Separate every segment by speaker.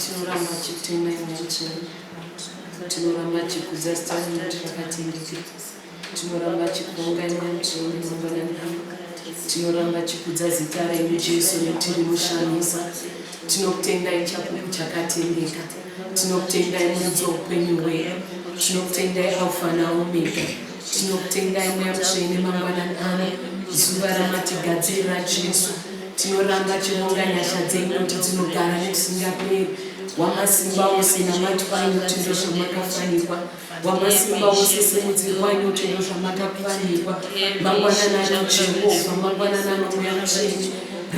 Speaker 1: tinoramba tichitenda imwe chete tinoramba tichikudza zita renyu kuti rakatendeka tinoramba tichikuonga imwe chete mangwanani ano tinoramba tichikudza zita renyu jesu netiri mushamisa tinokutendai chapupu chakatendeka tinokutendai mudzi weupenyu hwedu tinokutendai alfa naomega tinokutendai mweya mutsvene mangwanani ano zuva ramatigadzirira jesu Tinoramba tinonga nyasha dzenyu kuti dzinogara nekusingaperi. Wamasimba ose namati kwanyu kuti ndozvamakafanirwa. Wamasimba ose simudziri kwanyu kuti ndozvamakafanirwa. Mangwanana anoJehovha, mangwanana anomweya mutsvene.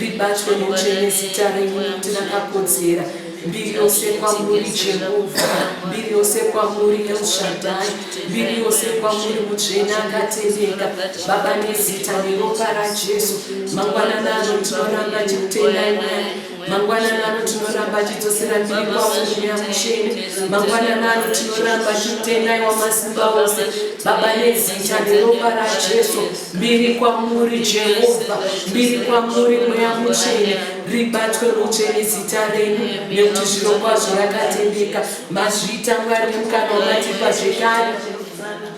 Speaker 1: Ribatwe mutsvene zita renyu kuti rakakodzera. mbiri yose kwamuri jehovha mbiri yose kwamuri elshadai mbiri yose kwamuri mutsvene akatendeka baba nezita neropa rajesu mangwanana ano tinoramba chikutendai mwari mangwanana ano tinoramba chidzosera mbiri kwaumweya mutsvene mangwanana ano tinoramba chikutendai wamasimba ose baba nezita neropa rajesu mbiri kwamuri jehovha mbiri kwamuri mweya mutsvene ribatwe mutsvene zita renyu nekuti zviro kwazvo rakatendeka mazviita mwari nemukana wamatipa zvekare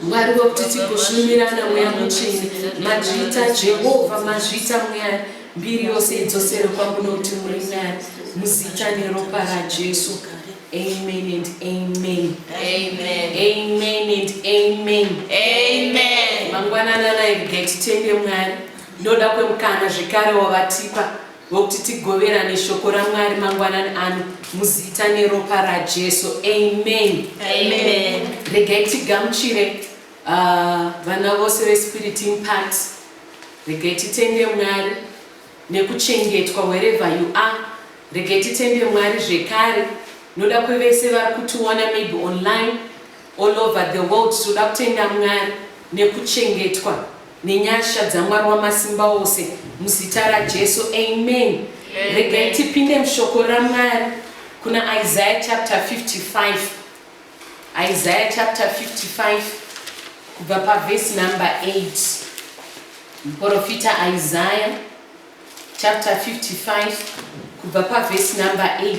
Speaker 1: mwari wekuti tigosvumirana mweya mutsvene mazviita jehovha mazviita mwari mbiri yose idzosere kwangu nokuti muri mwari muzita neropa rajesu amen and amen amen
Speaker 2: amen and
Speaker 1: amen amen
Speaker 2: mangwananana
Speaker 1: ibgetitende mwari Ndoda kwemukana zvekare wavatipa wokuti tigoverane shoko raMwari mangwanani ano muzita neropa raJesu. Amen. Amen.
Speaker 2: Regai
Speaker 1: tigamuchire uh, vana vose veSpirit Impact. Regai titende Mwari nekuchengetwa wherever you are. Regai titende Mwari zvekare noda kwevese vari kutiona maybe online All over the world tinoda kutenda Mwari nekuchengetwa nenyasha dzaMwari wamasimba ose muzita raJesu amen. Regai tipinde mushoko raMwari kuna Isaiah chapter 55 Isaiah chapter 55 kubva pavhesi number 8 muprofita Isaiah chapter 55 kubva pavhesi number 8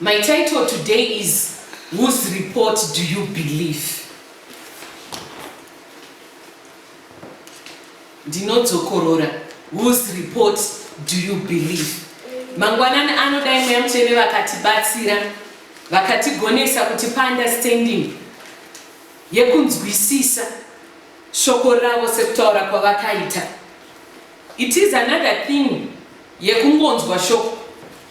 Speaker 2: My
Speaker 1: title today is whose report do you believe? Ndinodzokorora whose report do you believe? Mangwanani anodai mweya mutsvene vakatibatsira vakatigonesa kuti paunderstanding yekunzwisisa shoko ravo sekutaura kwavakaita it is another thing yekungonzwa shoko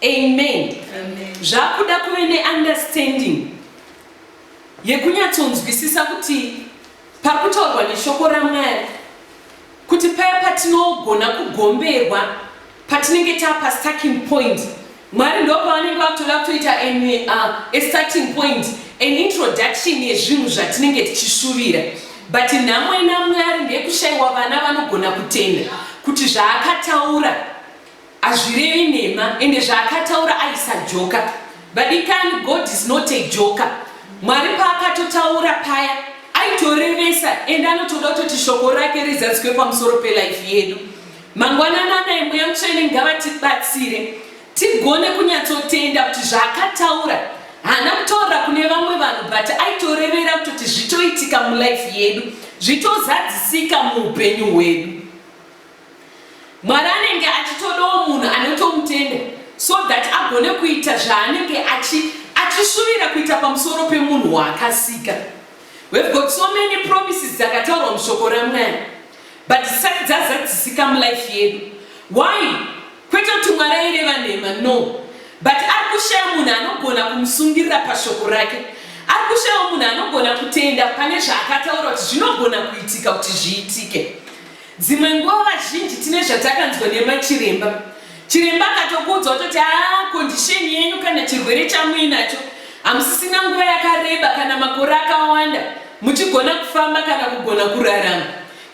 Speaker 1: Amen. Amen. Zvakuda kuve neunderstanding yekunyatsonzwisisa kuti pakutaurwa neshoko ramwari kuti paya patinogona kugomberwa patinenge tapa starting point mwari ndo pavanenge vakutoda kutoita a starting point an introduction yezvinhu zvatinenge tichishuvira but nhamo ina mwari ndekushayiwa vana vanogona kutenda kuti zvaakataura Azvirevi nhema ende zvaakataura aisa joka. Vadikani God is not a joker. Mwari paakatotaura paya aitorevesa ende anotoda kutoti shoko rake rizadzikwe pamusoro pelife yedu. Mangwanana anai mweya mutsvene ngavatibatsire tigone kunyatsotenda kuti zvaakataura haana kutaura kune vamwe vanhu but aitorevera kutoti zvitoitika mulife yedu zvitozadzisika muupenyu hwedu. Mwari anenge achitodawo munhu anotomutenda so that agone kuita zvaanenge achishuvira kuita pamusoro pemunhu waakasika. We've got so many promises dzakataurwa mushoko ramwari but dzisati dzazadzisika mulife yedu. Why? Kwete kuti mwari aireva nhema no but ari kushaya munhu anogona kumusungirira pashoko rake. Ari kushayawo munhu anogona kutenda pane zvaakataura kuti zvinogona kuitika kuti zviitike. Dzimwe nguva vazhinji tine zvatakanzwa nemachiremba. Chiremba akatokuudza ototi haa kondisheni yenyu kana chirwere chamuinacho hamusisina nguva yakareba kana makore akawanda muchigona kufamba kana kugona kurarama.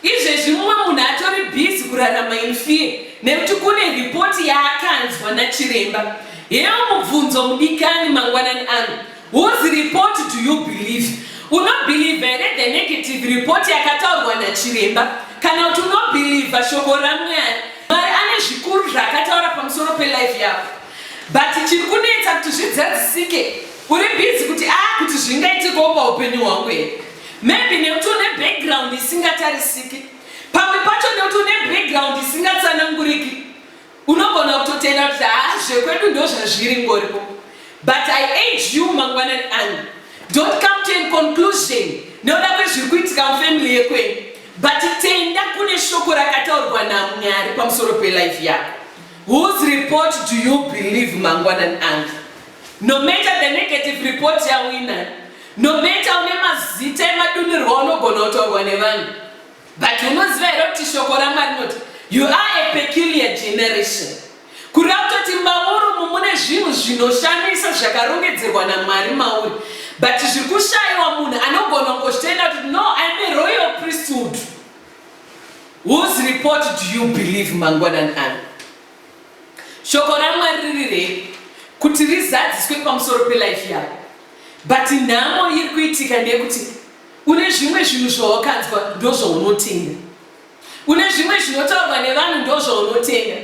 Speaker 1: Izvezvi mumwe munhu atori bhizi kurarama in fear nekuti kune ripoti yaakanzwa nachiremba. Heyo mubvunzo mudikani mangwanani ano Whose report do you believe? Unobhilivha here the negative report yakataurwa nachiremba kana kuti unobhilivha shoko raMwari? Mwari ane zvikuru zvaakataura pamusoro pelife yako, but chiri kunetsa kuti zvidzadzisike uri busy kuti a ah, kuti zvingaitikawo paupenyu hwangu here? Maybe nekuti une background isingatarisiki, pamwe pacho nekuti une background isingatsananguriki. Unogona kutotenda kuti haa zvekwedu ndo zvazviri ngoripo but I urge you mangwanani ano don't come to a conclusion nekuda kwezviri kuitika mufamily yekwenyu but tenda kune shoko rakataurwa naMwari pamusoro pelife yako. Whose report do you believe mangwanani ano? No matter the negative report yawina, no matter une mazita emadunirwa unogona kutaurwa nevanhu But unoziva here kuti shoko raMwari rinoti you are a peculiar generation. Kureva kutoti mauri umu mune zvinhu zvinoshamisa zvakarongedzerwa naMwari mauri. But zviri kushaiwa munhu anogona kungochitenda kuti no I am a royal priesthood. Whose report do you believe mangwanani ano? Shoko raMwari riri rei kuti rizadziswe pamusoro pelife yako. But nhamo iri kuitika ndeyekuti Une zvimwe zvinhu zvawakanzwa ndozvaunotenda. Une zvimwe zvinotaurwa nevanhu ndozvaunotenda.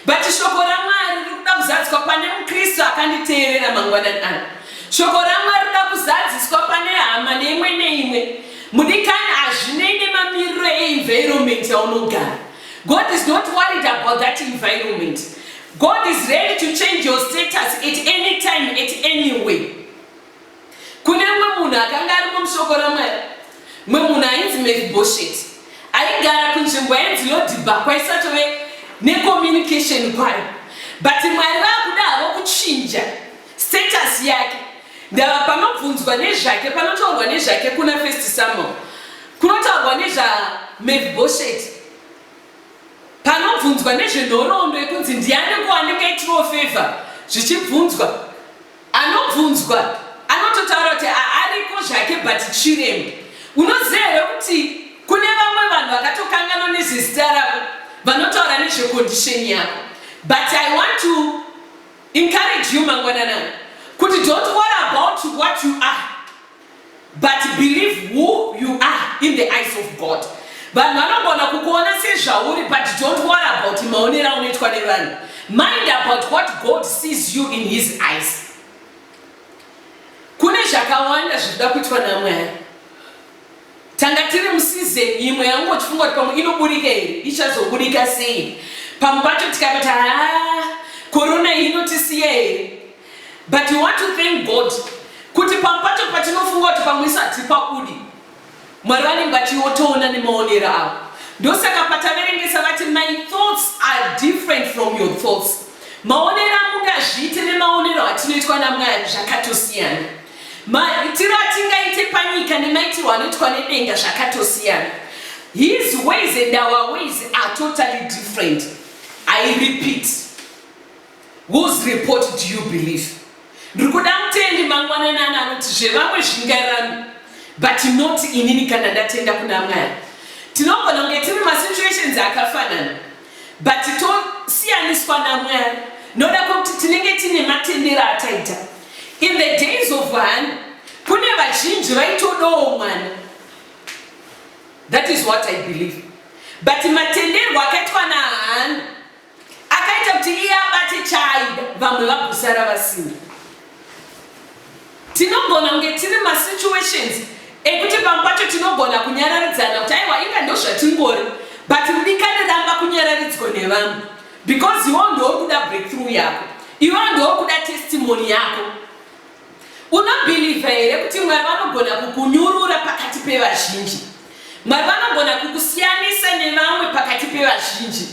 Speaker 1: But shoko raMwari riri kuda kuzadziswa pane muKristu akanditeerera mangwanani ano. Shoko raMwari riri kuda kuzadziswa pane hama neimwe neimwe. Mudikani hazvinei nemamiriro eenvironment yaunogara. God is not worried about that environment. God is ready to change your status at any time, at any way. Kune mumwe munhu akanga arimo muShoko raMwari, mumwe munhu ainzi Mefibhosheti, aigara kunzvimbo yainzi Lodhibha kwaisatove necommunication kwayo, but Mwari vakuda havo kuchinja status yake. Ndava panobvunzwa nezvake, panotaurwa nezvake kuna First Samuel, kunotaurwa nezvaMefibhosheti, panobvunzwa nezvenhoroondo yekunzi ndiani ko anenge aitiwo favor, zvichibvunzwa. Anobvunzwa anototaura kuti ariko zvake but Chiremba unoziva here kuti kune vamwe vanhu vakatokanganwa nezvezita rako vanotaura nezvecondition yako but I want to encourage you mangwanana kuti don't worry about what you are But believe who you are in the eyes of God. Vanhu vanogona kukuona sezvauri but don't worry about maonero aunoitwa nevanhu. Mind about what God sees you in his eyes. Kune zvakawanda zvinoda kuitwa naMwari. Tanga tiri musizeni imwe yangu chifunga kuti pamwe inoburika here ichazoburika sei? Pamwe pacho tikatoti haa korona iyi inotisiya here? But you want to thank God kuti pamwe pacho patinofunga kuti pamwe isu hatipakudi mwari vanenge vachiotoona nemaonero avo ndosaka pataverengesa vati my thoughts are different from your thoughts maonero amunge azviite nemaonero atinoitwa namwari zvakatosiyana maitiro atingaite panyika nemaitirwo anoitwa nedenga zvakatosiyana his ways and our ways are totally different i repeat Whose report do you believe? Ndiri kuda mutendi mangwananani anoti zvevamwe zvingairami but not inini kana ndatenda kuna Mwari. Tinogona kunge tiri masituations akafanana but tosiyaniswa naMwari noda kwekuti tinenge tine matendero ataita. In the days of Hana, kune vazhinji vaitodawo mwana. That is what I believe. But matenderwo akaitwa naHana Akaita kuti iye abate chaaida vamwe vagosara vasina. Tinogona kunge tiri masituations ekuti pamwe pacho tinogona kunyararidzana kuti aiwa inga ndozvatingori but mudikani ramba kunyararidzwa nevamwe because iwo ndouri kuda breakthrough yako iwo ndouri kuda testimony yako Unobhilivha here kuti Mwari vanogona kukunyurura pakati pevazhinji? Mwari vanogona kukusiyanisa nevamwe pakati pevazhinji?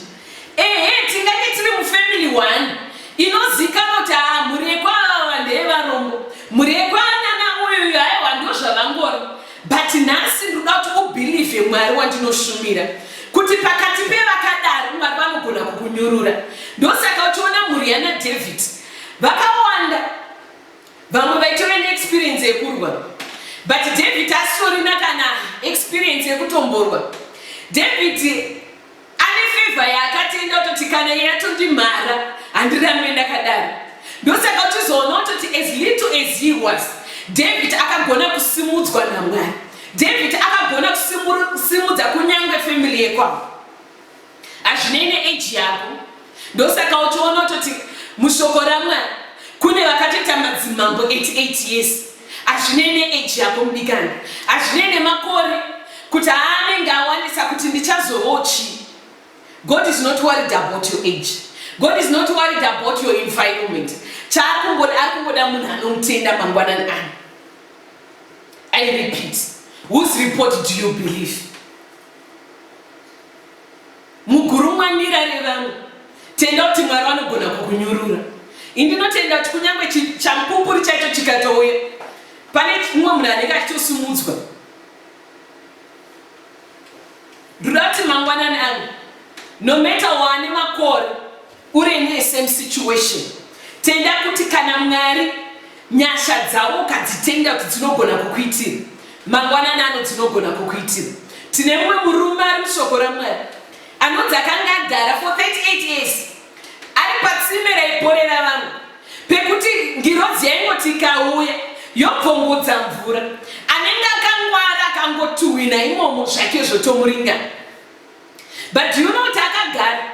Speaker 1: Ehe, tingange tiri mufamily one inozikanwa kuti haa mhuri yekwaava ndeyevarombo, mhuri yekwanana uyu uyu aiwa ndo zvavangori, but nhasi ndinoda kuti ubhilivhe Mwari wandinoshumira kuti pakati pevakadaro Mwari vanogona kukunyurura. Ndosaka uchiona mhuri yana David vakawanda vamwe vaitove neexperience yekurwa but david asitorina kana experience yekutomborwa david ane fevha yaakatenda kutoti kana iye atondimhara handirambe ndakadaro ndosaka uchizoona kutoti as little as he was david akagona kusimudzwa namwari david akagona kusimudza kunyange family yekwavo Hazvinei neage yako. Ndosaka uchiona utoti mushoko raMwari kune vakatoita madzimambo 88 years. Hazvinei neage yako mudikani. Hazvinei nemakore kuti aanenge awanisa kuti ndichazovawo chii. God is not worried about your age. God is not worried about your environment. Chaakungoda akungoda munhu anomutenda mangwanani ano. I repeat, whose report do you believe? Mugurumwa ndirare vangu tenda kuti mwari vanogona kukunyurura indinotenda kuti kunyange champupuri chaicho chikatouya pane mumwe munhu anenge achitosumudzwa ndinoda kuti mangwanani angu nometa wane makore Uri in a same situation. Tenda kuti kana Mwari nyasha dzavo ukadzitenda kuti dzinogona kukuitira. Mangwanani ano dzinogona kukuitira. Tine mumwe murume ari mushoko raMwari anonzi akanga agara for 38 years ari patsime raiporera vanhu pekuti ngirozi yaingoti ikauya yobvongudza mvura anenge akangwara akangotuhwina imomo zvake zvotomuringa But do you know kuti akagara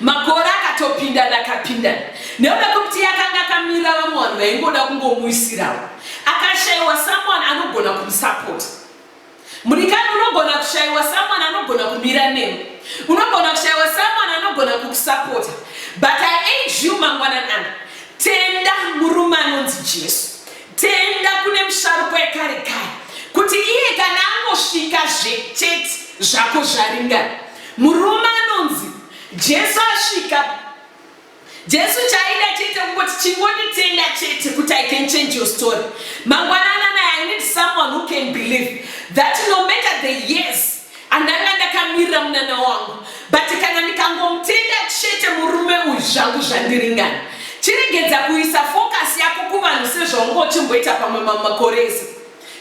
Speaker 1: makore akatopindana akapindana nekuda kwekuti yakanga akamira vamwe vanhu vaingoda kungomuisirawo akashaiwa someone anogona kumusapota mudikani unogona kushaiwa someone anogona kumira nemo unogona kushaiwa someone anogona kukusapota but i age you mangwananana tenda murume anonzi jesu Tenda kune musharukwa ekare kare kuti iye kana angosvika zve chete zvako zvaringana. Murume anonzi Jesu asvika Jesu chaida chete kungoti chingonditenda chete kuti I can change your story. Mangwanana naye I need someone who can believe that no matter the years andanga ndakamirira munana wangu but kana ndikangomutenda chete murume uyu zvangu zvandiringana chiregedza kuisa focus yako kuvanhu sezvaunga uchimboita pamwe mamwe makore ese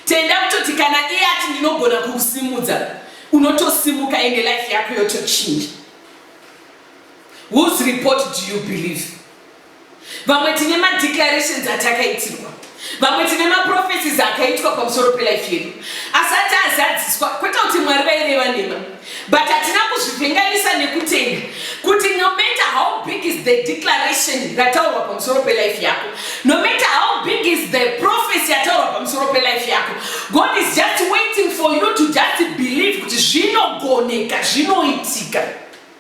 Speaker 1: tenda kutoti kana iye ati ndinogona kukusimudza unotosimuka ende life yako yotochinja whose report do you believe vamwe tine madeclarations atakaitirwa vamwe tine maprophecies akaitwa pamusoro pelife yedu asati azadziswa kwete kuti mwari vaireva nema but hatina kuzvivhenganisa nekutenda kuti no matter how big is the declaration rataurwa pamusoro pelife yako no matter how big is the prophecy yataurwa pamusoro pelife yako god is just waiting for you to just believe kuti zvinogoneka zvinoitika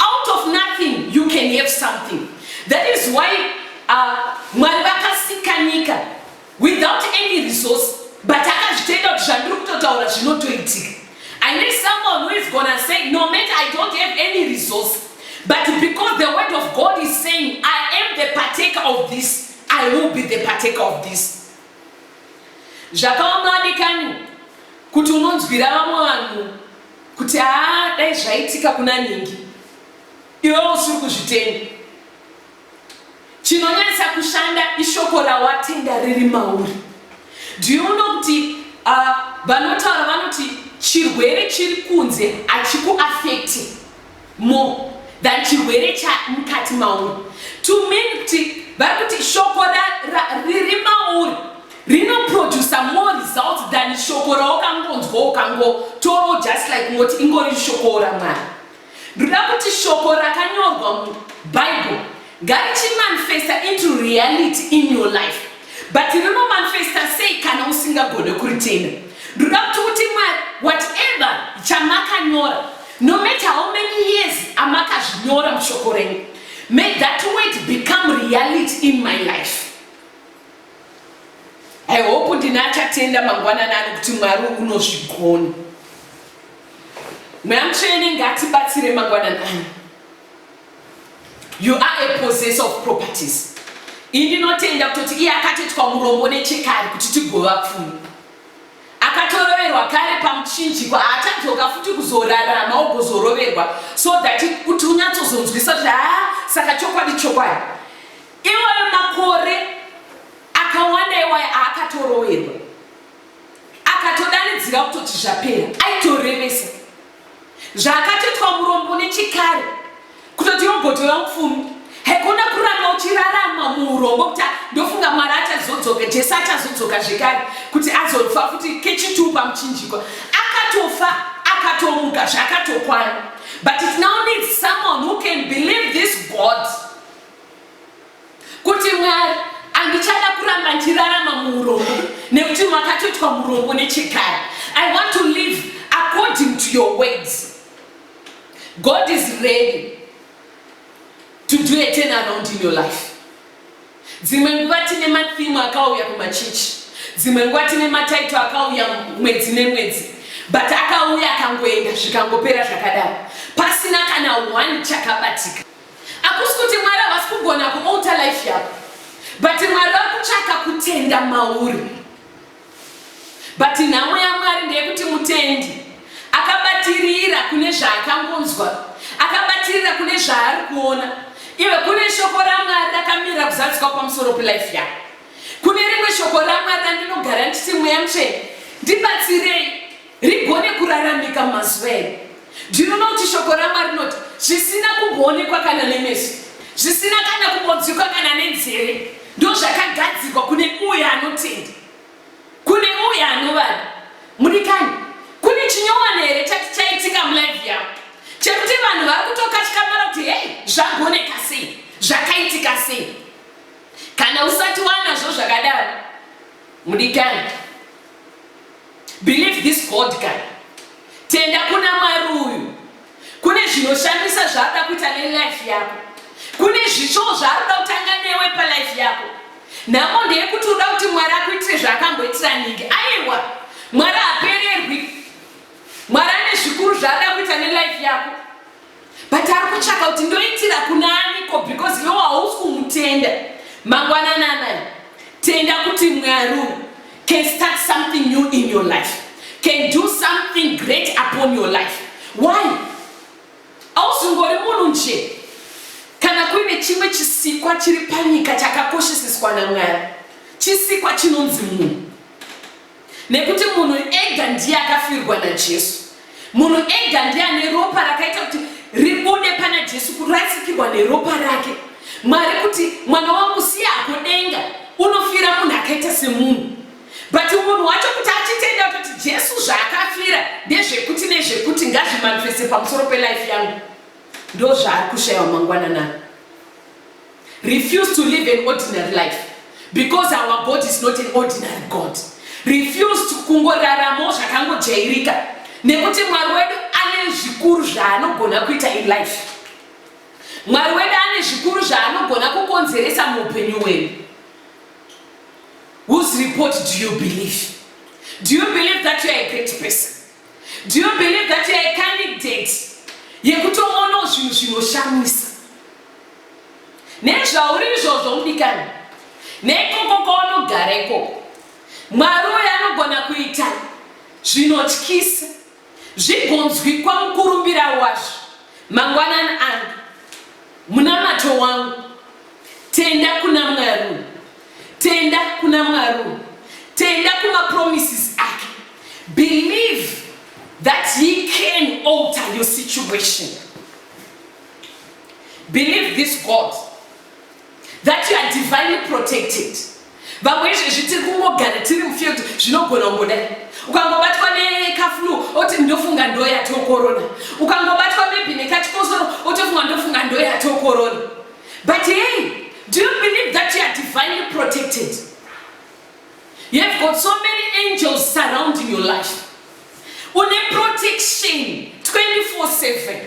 Speaker 1: Out of nothing you can have something. That is why uh, Mwari vakasika nyika without any resource but akazvitenda kuti zvandiri kutotaura zvinotoitika. I need someone who is gonna say no matter I don't have any resource but because the word of God is saying I am the partaker of this I will be the partaker of this. Zvakaoma adikani kuti unonzwira vamwe vanhu kuti haa dai zvaitika kuna ningi iwewo usiri kuzvitenda chinonyatsa kushanda ishoko rawatenda riri mauri do you know kuti uh, vanotaura uh, vanoti chirwere chiri kunze hachikuafekti more than chirwere chamukati mauri to mean kuti vari kuti shoko riri mauri rinoproducer more results than shoko rawakangonzwa ukangotoro just like ngoti ingori shoko ramwari ndoda kuti shoko rakanyorwa mubible Garichi manifesta into reality in your life but rino manifesta sei kana usingagone kuritenda ndoda kuti uti mwari whatever chamakanyora no matter how many years amakazvinyora mushoko renyu may that word become reality in my life i hope ndine achatenda mangwanani ani kuti mwari unozvigona mweya mutsvene ngatibatsire mangwanani ani You are a possessor of properties. Indinotenda kutoti iye akatoitwa murombo nechekare kuti tigova pfumi. Akatoroverwa kare pamuchinjikwa haachadzoka futi kuzorarama ogozoroverwa so that kuti unyatsozonzwisa kuti haa saka chokwadi chokwadi. Iwayo makore akawanda iwayo aakatoroverwa akatodanidzira kutoti zvapera aitorevesa. Zvakatoitwa murombo nechikare kutoti robhoti vaupfumi haikona kuramba uchirarama muurombo kuti ndofunga mwari achazodzoka jesu achazodzoka zvekare kuti azofa futi kechituu pamuchinjikwa akatofa akatomuka zvakatokwana but it now needs someone who can believe this god Kuti Mwari andichada kuramba ndichirarama muurombo nekuti makatoitwa murombo nechekare. I want to live according to your words. God is ready to do a turn around in your life. Dzimwe nguva tine mathimu akauya kumachichi, dzimwe nguva tine mataito akauya mwedzi nemwedzi, but akauya akangoenda zvikangopera zvakadaro pasina kana one chakabatika. Hakusi kuti Mwari havasi kugona kualter life yako but Mwari vari kutsvaka kutenda mauri but nhamo yaMwari ndeyekuti mutendi akabatirira kune zvaakangonzwa akabatirira kune zvaari kuona iwe kune shoko raMwari rakamira kuzadzika kwamusoro pelife yako kune rimwe shoko raMwari randinogara nditi mweya mutsvene ndibatsirei Rigone kuraramika mumazuva edu. Ndinoona kuti shoko raMwari rinoti zvisina kumboonekwa kana nemeso, zvisina kana kumbonzwikwa kana nenzeve, ndozvakagadzirwa kune uye anotenda, kune uye anovada. Mudikani, kune chinyowani here chati chaitika mulive yavo chekuti vanhu vari kutokatyamara kuti hei zvagoneka sei, zvakaitika sei? Kana usati wanazvo zvakadaro, mudikani Believe this God guy. Tenda kuna Mwari uyu. Kune zvinoshamisa zvaada kuita nelife yako. Kune zvichoo zvaarikuda kutanga newe palife yako. Nhamo ndeyekuti uda kuti Mwari akuitire zvaakamboitira ningi. Aiwa, Mwari hapererwi. Mwari ane zvikuru zvaada kuita nelife yako. but ari kutsvaka kuti ndoitira kuna aniko because iwo hausi kumutenda mangwanana anaya tenda kuti mwari can start something new in your life can do something great upon your life why ausingori munhu nje kana kuine chimwe chisikwa chiri panyika chakakosheseswa namwari chisikwa chinonzi munhu Nekuti munhu ega ndiye akafirwa naJesu. Munhu ega ndiye ane ropa rakaita kuti ribude pana Jesu, kurasikirwa neropa rake. Mwari kuti mwana wangu siya hako denga, unofira munhu akaita semunhu. But munhu wacho kuti achitenda kuti Jesu zvaakafira ndezvekuti nezvekuti ngazvimanifeste pamusoro pelife yangu, ndozvaari kushaiwa mangwanana. Refuse to live an ordinary life because our God is not an ordinary God. Refuse to kungoraramo zvakangojairika nekuti Mwari wedu ane zvikuru zvaanogona kuita in life. Mwari wedu ane zvikuru zvaanogona kukonzeresa muupenyu hwedu. Whose report do you believe? Do you believe that you are a great person? Do you believe that you are a candidate yekutoona zvinhu zvinoshamisa? nezvauri izvozvo mudikani neikoko kwaunogara ikoko mwari uyo anogona kuita zvinotyisa zvigonzwikwa mukurumbira wazvo mangwanani angu munamato wangu tenda kuna mwari tenda kuna mwari tenda kumapromises ake believe that he can alter your situation Believe this God that you are divinely protected. Vamwe izvezvi tiri kungogara tiri mufield zvinogona kungodai. Ukangobatwa nekaflu oti ndofunga ndoya to corona. Ukangobatwa maybe nekachikosoro otofunga ndofunga ndoya to corona. But hey, do you believe that you are divinely protected? You have got so many angels surrounding your life. Une protection 24/7.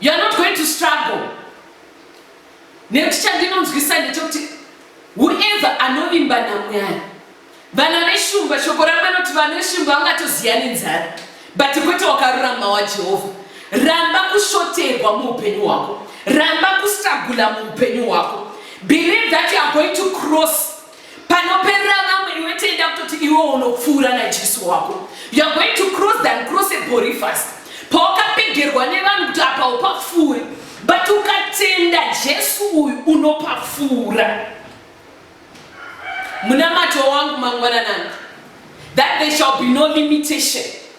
Speaker 1: You are not going to struggle. Nekuti chandinonzwisa ndechekuti whoever anovimba naMwari. Vana veshumba shoko ramwe noti vana veshumba vangatoziya nenzara but kwete wakarurama waJehovha. Ramba kushoterwa muupenyu hwako. Ramba kustragula muupenyu hwako. Believe that you are going to cross panoperera vamwe iwe tenda kutoti iwe unopfuura najesu wako youare going to cross than cross a borifast pawakapegerwa nevanhu kuti apa upapfuuri but ukatenda jesu uyu unopapfuura munamato wangu mangwananana that there shall be no limitation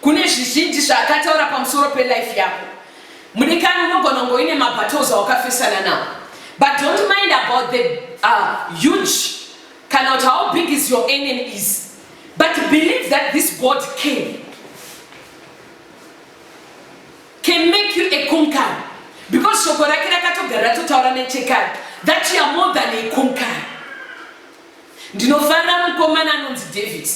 Speaker 1: Kune zvizhinji zvaakataura pamusoro pelife yako mudikani, unogona kunge uine mabattles awakafesana nawo but don't mind about the uh, huge kana kuti how big is your enemy is but believe that this God can can make you a conqueror because shoko rake rakatogara ratotaura nechekare that you are more than a conqueror. Ndinofanira mukomana anonzi David.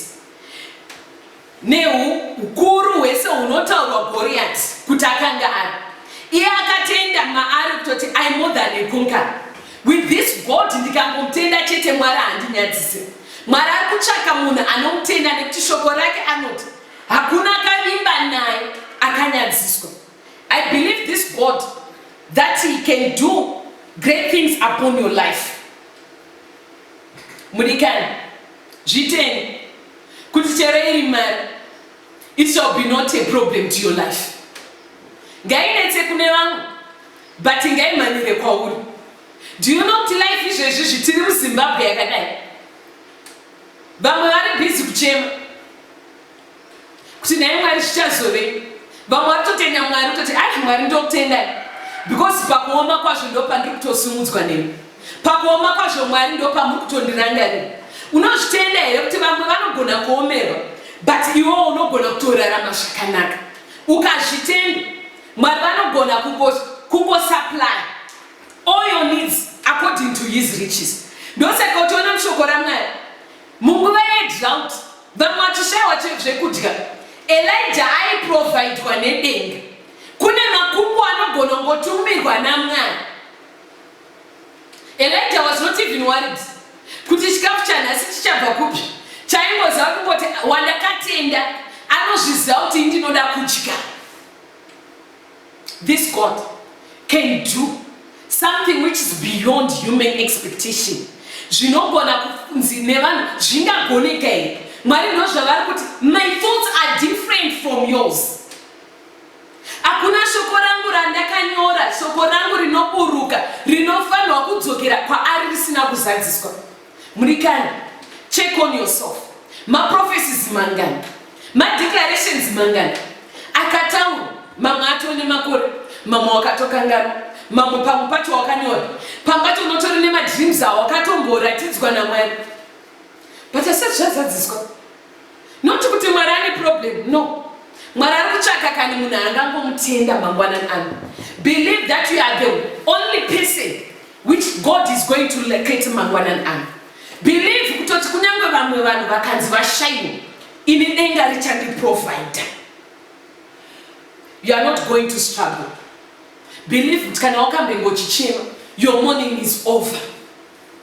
Speaker 1: Nehu ukuru hwese hunotaurwa Goriati kuti akanga ari, iye akatenda maari kutoti I more than a conqueror. With this God ndikangomutenda chete Mwari handinyadzise. Mwari ari kutsvaka munhu anomutenda nekuti shoko rake anoti hakuna akavimba naye akanyadziswa. I believe this God that he can do great things upon your life. Mudikani. Zvitende kuti chero iri mari it shall be not a problem to your life. Ngainetse kune vamwe but ngaimhanyire kwauri. Do you know kuti life izvezvi zvitiri muZimbabwe yakadai vamwe vari busy kuchema kuti naye mwari zvichazove vamwe vari kutotenda mwari kutoti ai mwari ndokutendai because pakuoma kwazvo ndo pandiri kutosumudzwa nemi pakuoma kwazvo mwari ndo pamuri kutondirangarira unozvitenda here kuti vamwe vanogona kuomerwa but iwo unogona kutorarama zvakanaka ukazvitenda mwari vanogona kungosupply all your needs according to his riches ndosaka utoona mushoko ramwari munguva yedrought Vamwe vachishaiwa zvekudya. Elija aiprovaidwa nedenga. Kune makumbo anogona kungotumirwa naMwari. Elija was not even worried kuti chikafu chanhasi chichabva kupi. Chaingoziva kungoti wandakatenda anozviziva kuti ndinoda kudya. This God can do something which is beyond human expectation. Zvinogona kunzi nevanhu zvingagoneka here? Mwari ndozvavari kuti my thoughts are different from yours. Hakuna shoko rangu randakanyora, shoko rangu rinoburuka, rinofanirwa kudzokera kwaari risina kuzadziswa. Murikani, check on yourself. Ma prophecies mangani? Ma declarations mangani? Akataura, mamwe atove nemakore, mamwe wakatokanganwa, mamwe pamwe pacho wakanyora, pamwe pacho unotori nema dreams awo wakatomboratidzwa naMwari. But asati zvazadziswa. not kuti mwari ane problem no mwari ari kutsvaka kani munhu angangomutenda mangwanani ano believe that you are the only person which god is going to locate mangwanani ano believe kutoti kunyange vamwe vanhu vakanzi vashaiwa ini denga richandiprovider you are not going to struggle believe kuti kana wakambengochichema your morning is over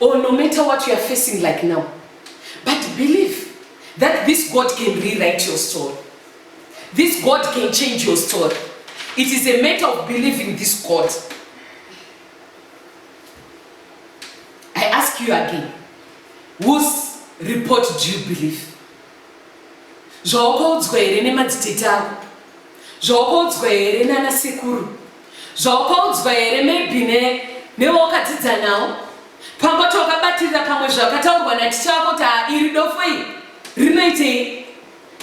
Speaker 1: or no matter what you are facing like now but believe that this God can rewrite your story this God can change your story it is a matter of believing this God I ask you again whose report do you believe Zvawakaudzwa here nemadzitete ako? Zvawakaudzwa here nana sekuru? Zvawakaudzwa here maybe ne newawakadzidza nawo? Pamba kuti wakabatirira pamwe zvakataurwa naticha wako kuti haa iri dofo iri rinoitei?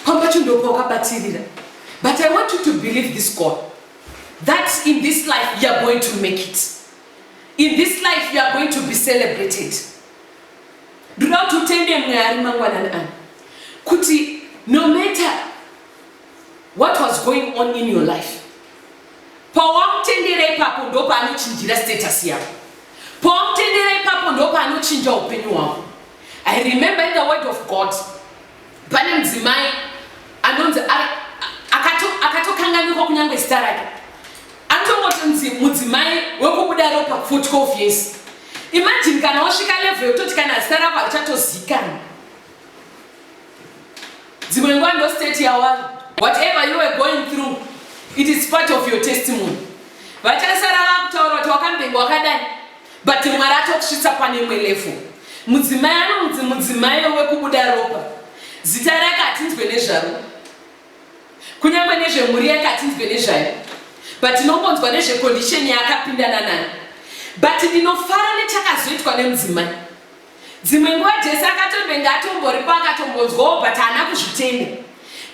Speaker 1: Pamba chundopa wakabatirira. But I want you to believe this God that in this life you are going to make it. In this life you are going to be celebrated. Ndoda kuti utende Mwari mangwanani ano kuti no matter what was going on in your life, pawamutendera ipapo ndopaanochinjira status yako, pawamutendera ipapo ndopaanochinja upenyu hwako. I remember in the word of God Pane mudzimai anonzi akatokanganwikwa kunyange zita rake anotongotonzi mudzimai wekubuda ropa for 12 years imagine kana wasvika level yekutoti kana zita rako harichatozikana dzimwe nguva ndo state yawari whatever you were going through it is part of your testimony vachasara vakutaura kuti wakambenga wakadai But Mwari atokusvitsa pane imwe level. Mudzimai anonzi mudzimai wekubuda ropa. Zita rake hatinzwe nezvaro. Kunyangwe nezvemhuri yake hatinzwe nezvayo. But tinongonzwa nezvecondition yaakapindana nayo. But ndinofara nechakazoitwa nemudzimai. Dzimwe nguva Jese akatombenge atomboripo akatombonzwawo but haana kuzvitenda.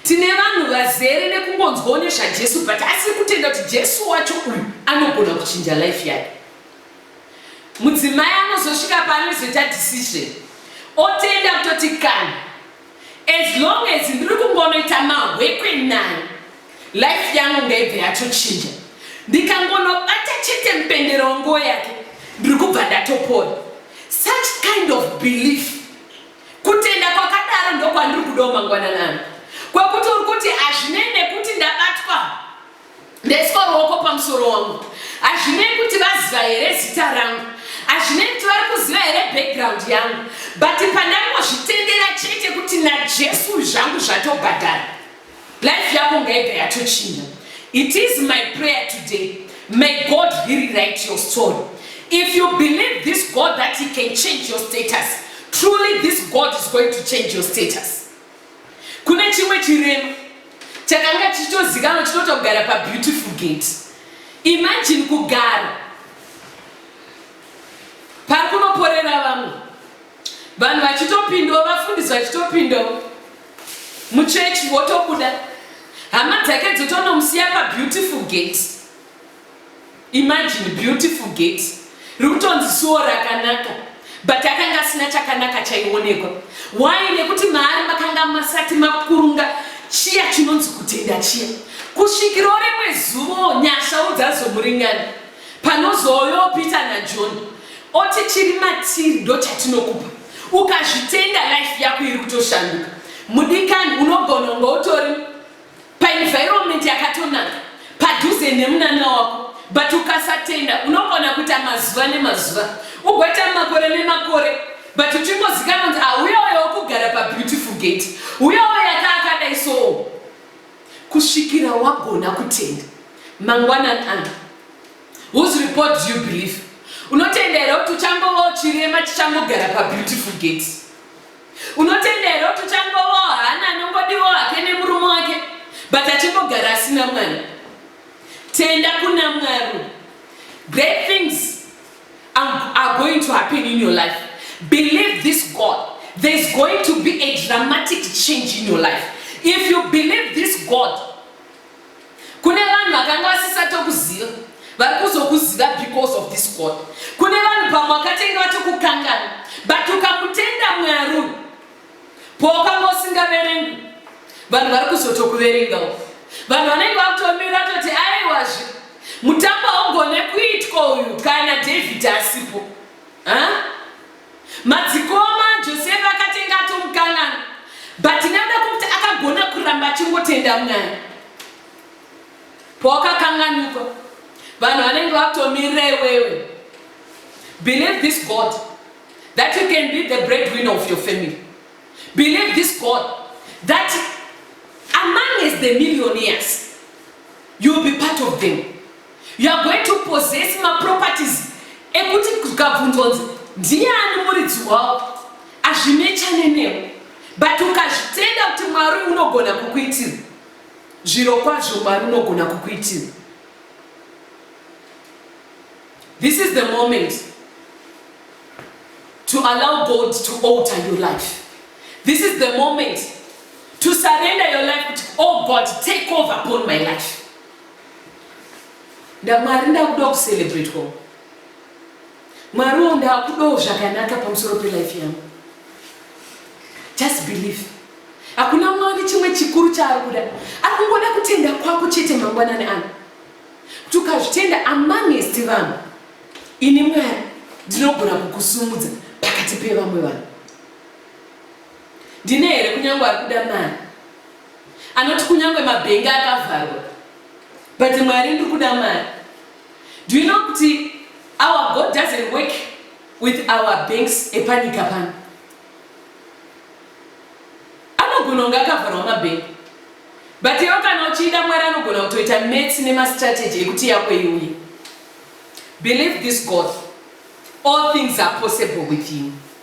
Speaker 1: Tine vanhu vazere nekungonzwawo nezvaJesu but asiri kutenda kuti Jesu wacho uyu anogona kuchinja life yake. Mudzimai anozosvika paanozoita decision otenda kutoti kana as long as ndiri kungonoita mahwekwe naye life yangu ngaibve yatochinja. Ndikangonobata chete mupendero wenguo yake ndiri kubva ndatopora. Such kind of belief kutenda kwakadaro ndokwandiri kudawo mangwananana kwekuti uri kuti hazvinei nekuti ndabatwa Ndaiswa ruoko pamusoro wangu. Hazvinei kuti vaziva here zita rangu. Hazvinei kuti vari kuziva here background yangu. But pandangozvitendera chete kuti naJesu zvangu zvatobhadhara. Life yako ngaibva yatochinja. It is my prayer today. May God rewrite your story. If you believe this God that he can change your status, truly this God is going to change your status. Kune chimwe chirema chakanga chichitozikanwa chinoita kugara pabeautiful gate. Imagine kugara pari kunoporera vamwe vanhu vachitopindawo vafundisi vachitopindawo muchechi votobuda hama dzake dzotonomusiya pabeautiful gate. Imagine beautiful gate rikutonzi suwo rakanaka but akanga asina chakanaka chaionekwa. Why? Nekuti maari makanga masati makurunga chiya chinonzi kutenda chiya. Kusvikiro rimwe zuvo nyashawo dzazomuringana panozoyo Peter naJohn oti chiri matiri ndochatinokupa ukazvitenda life yako iri kutoshanduka. Mudikani unogona unga utori paenvironment yakatonaka padhuze nemunana wako but ukasatenda unogona kuita mazuva nemazuva ugoita makore nemakore but uchingozikana kunzi auya ah, uyo wokugara pabeautiful gate uya uyo yaka akadai soo kusvikira wagona kutenda mangwanani ano whose report do you believe unotenda here kuti uchangova chirema chichangogara pabeautiful gate Unotenda here kuti uchangovawo hana anongodiwo hake nemurume wake but achingogara asina mwana? Tenda kuna Mwari. Great things are going to happen in your life. Believe this God. There's going to be a dramatic change in your life. If you believe this God, Kune vanhu vakanga vasisatokuziva vari kuzokuziva because of this God. Kune vanhu pamwe wakatenge vatokukangana but ukamutenda Mwari uyu powakanga usingaverengwi vanhu vari kuzotokuverengawo. Vanhu vanenge vakutomira toti aiwazve mutambo haugone kuitwa uyu kana David asipo. Huh? Madzikoma Josefa akatenga ato mukanana but nekuda kwekuti akagona kuramba achingotenda mwari pawakakanganikwa vanhu vanenge vakutomirira iwewe believe this god that you can be the bread winner of your family believe this god that among as the millionaires you'll be part of them You are going to possess ma properties ekuti kukabvunzwa kunzi ndiani muridzi wawo azvinechane newo but ukazvitenda kuti mwari unogona kukuitira zviro kwazvo mwari unogona kukuitira this is the moment to allow god to alter your life this is the moment to surrender your life kuti oh god take over upon my life Nda Mwari ndakudawo kucelebratwawo. Mwari wo ndakudawo zvakanaka pamusoro pelife yangu. Just believe. Hakuna Mwari chimwe chikuru chaari kuda. Ari kungoda kutenda kwako chete mangwanani ano. Kuti ukazvitenda amongst vanhu, ini Mwari ndinogona kukusumudza pakati pevamwe vanhu. Ndine here kunyange ari kuda mari? anoti kunyange mabhengi akavharwa but mwari ndiri kuda mari do you know kuti our god doesn't work with our banks epanyika pano anogona kunge akavharwa mabhengi but iwo kana uchiida mwari anogona kutoita mats nemastrategy ekuti yako iuye believe this god all things are possible with you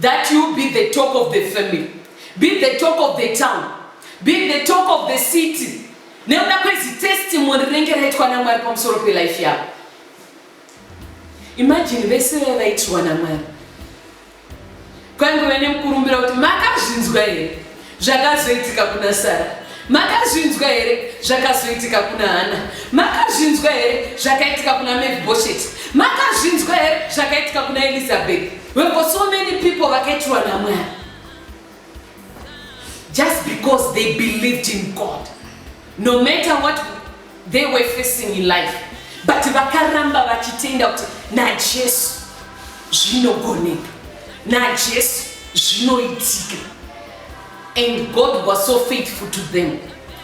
Speaker 1: that you be the talk of the family be the talk of the town be the talk of the city nekuda kwezi testimony rinenge raitwa namwari pamusoro pelife yavo imagine vese vaya vaitirwa namwari kwaingove nemukurumbira kuti makazvinzwa here Zvakazoitika kuna Sara makazvinzwa here zvakazoitika kuna hana makazvinzwa here zvakaitika kuna mefbosheti makazvinzwa here zvakaitika kuna elizabeth weko so many people vakaitirwa namwari just because they believed in god no matter what They were facing in life but vakaramba vachitenda kuti naJesu zvinogoneka, naJesu zvinoitika and God was so faithful to them.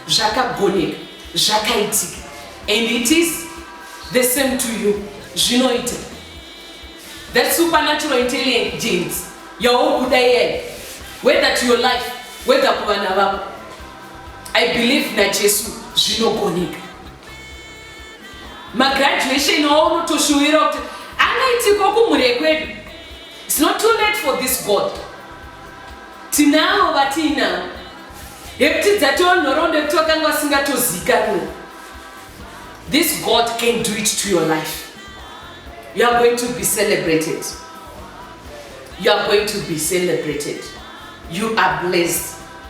Speaker 1: Zvakagoneka, zvakaitika and it is the same to you zvinoita that supernatural intelligence yauri kuda iyayi whether to your life whether kuvana vako I believe naJesu zvinogoneka. Magraduation awo unotoshuwira kuti angaitikwa kumhuri yekwedu. It's not too late for this God. Tinavo vatiinavo yekuti dzatoo nhoroondo yekuti vakanga vasingatozikanwe. This God can do it to your life. You are going to be celebrated. You are going to be celebrated. You are blessed.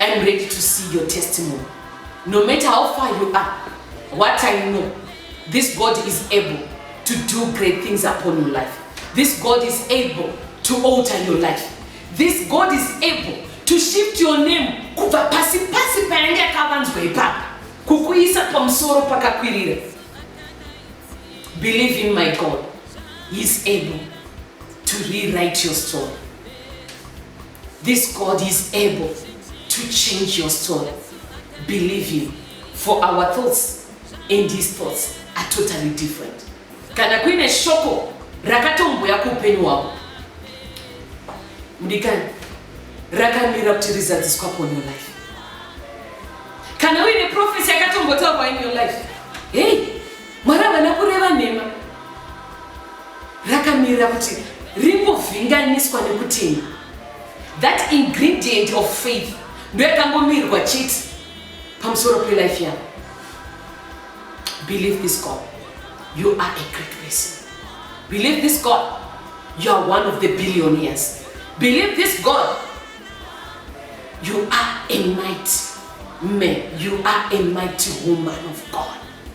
Speaker 1: I'm ready to see your testimony. No matter how far you are, what I know, this God is able to do great things upon your life. This God is able to alter your life. This God is able to shift your name kubva pasi pasi payange yakavanzwa ipapo kukuisa pamusoro pakakwirira. Believe in my God. He is able to rewrite your story. This God is able to change your story. Believe him. For our thoughts and his thoughts are totally different. Kana kuine shoko rakatombuya kuupenyu hwako mudikani rakamira kuti rizadziswa upon your life. Kana uine prophecy yakatombotaurwa in your life. Hey, Mwari havana kureva nhema rakamirira kuti rimbovhinganiswa nekuti that ingredient of faith ndoyakangomirwa chete pamusoro pelife yako believe this god you are a great person believe this god you are one of the billionaires believe this god you are a mighty man you are a mighty woman of god